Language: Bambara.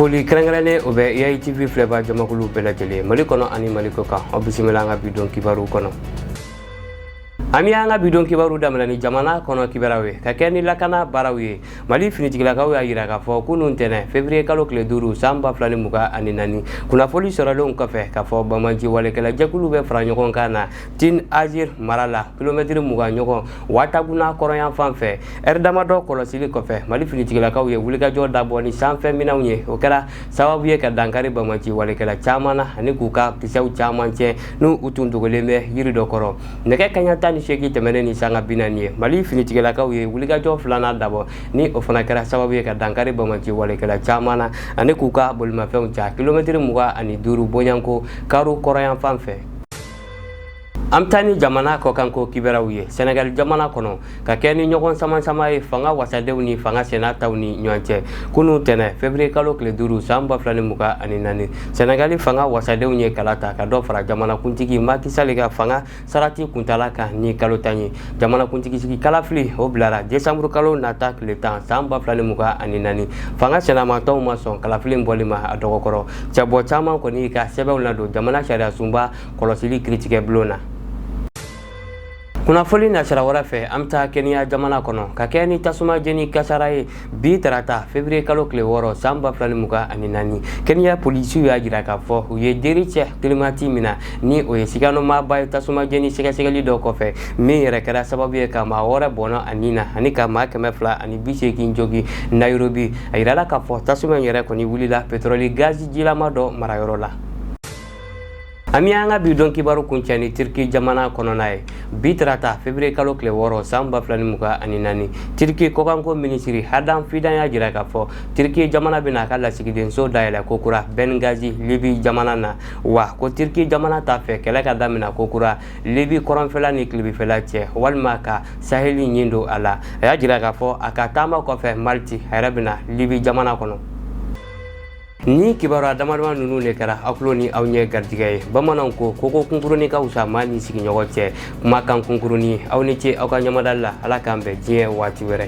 foli kɛrɛnkɛrɛnnen o bɛ yayi tv filɛba jamakulu bɛɛ lajɛlen mali kɔnɔ ani mali kɔ kan aw bisimila an ka bidon kibaru kɔnɔ an bɛ an ka bidon kibaru daminɛ ni jamana kɔnɔ kibaruw ye ka kɛ ni lakana baaraw ye mali finitigilakaw y'a yira k'a fɔ kunun tɛnɛ fevriye kalo tile duuru san ba fila ni mugan ani naani kunnafoli sɔrɔlenw kɔfɛ k'a fɔ bamaji walekɛla jɛkulu bɛ fara ɲɔgɔn kan na Tine Azir mara la kilomɛtɛrɛ mugan ɲɔgɔn Wataguna kɔrɔnyan fan fɛ ɛri damadɔ kɔlɔsili kɔfɛ Mali finitigilakaw ye wulikajɔ dabɔ ni sanfɛ minɛnw ye o kɛra sababu ye ka dankari bamaci walekɛla caman na ani k'u ka kisɛw caman tiɲɛ n'u tun dogolen bɛ yiri dɔ kɔrɔ nɛgɛ kaɲa tan ni seegin tɛmɛnen ni sanga bi naani ye Mali finitigilakaw ye wulikajɔ filanan dabɔ ni o fana kɛra sababu ye ka dankari bamaci walekɛla caman na ani k'u ka bolimafɛnw cɛn kilomɛtɛrɛ mugan ani duuru bɔɲanko karo kɔrɔnyan fan fɛ an bɛ taa ni jamana kɔkanko kibaruw ye senegali jamana kɔnɔ ka kɛ ni ɲɔgɔn samasama ye fanga wasadenw ni fanga sinamatɔw ni ɲɔgɔn cɛ kunun tɛnɛ fevriye kalo tile duuru san ba fila ni mugan ani naani senegali fanga wasadenw ye kala ta ka dɔ fara jamanakuntigi maki sali ka fanga sarati kuntala kan ni kalo tan ye jamanakuntigi sigi kalafili o bilara desanburu kalo nata tile tan san ba fila ni mugan ani naani fanga sinamatɔw ma sɔn kalafili bɔli ma a dɔgɔkɔrɔ cɛbɔ caman kɔni y'u ka sɛbɛnw ladon jamana sariyasunba kɔlɔsili kiritigɛbulon na kunnafoli nasira wɛrɛ fɛ an bɛ taa keniya jamana kɔnɔ ka kɛ ni tasuma jeni kasara ye bi tarata fevriye kalo tile wɔɔrɔ san ba fila ni mugan ani naani keniya polisiw y'a jira k'a fɔ u ye dericɛ kilimati mina ni o ye sigamaaba ye tasuma jeni sɛgɛsɛgɛli dɔ kɔfɛ min yɛrɛ kɛra sababu ye ka maa wɔɔrɔ bɔnɛ a ni na ani ka maa kɛmɛ fila ani bi seegin jogin nayirobi a jirala k'a fɔ tasuma yɛrɛ kɔni wulila petɔrɔli gazi jilama dɔ marayɔrɔ la an bɛ an ka bidon kibaru kuncɛ ni tiriki jamana kɔnɔna ye bi tarata fevriye kalo tile wɔɔrɔ san ba fila ni mugan ani naani tiriki kɔkanko minisiri hadan fidan y'a jira k'a fɔ tiriki jamana bɛna a ka lasigidenso dayɛlɛ ko kura bɛngazi libi jamana na wa ko tiriki jamana t'a fɛ kɛlɛ ka damina ko kura libi kɔrɔnfɛla ni tilebifɛla cɛ walima ka saheli ɲin don a la a y'a jira k'a fɔ a ka taama kɔfɛ maliti a yɛrɛ bɛ na libi jamana kɔnɔ nin kibaruya damadama ninnu de kɛra aw tulo ni aw ɲɛ garijigɛ ye bamananw ko koko kunkuruni ka wusa maa ni sigiɲɔgɔn cɛ kumakan kunkuruni aw ni ce aw ka ɲamadali la ala k'an bɛn diɲɛ waati wɛrɛ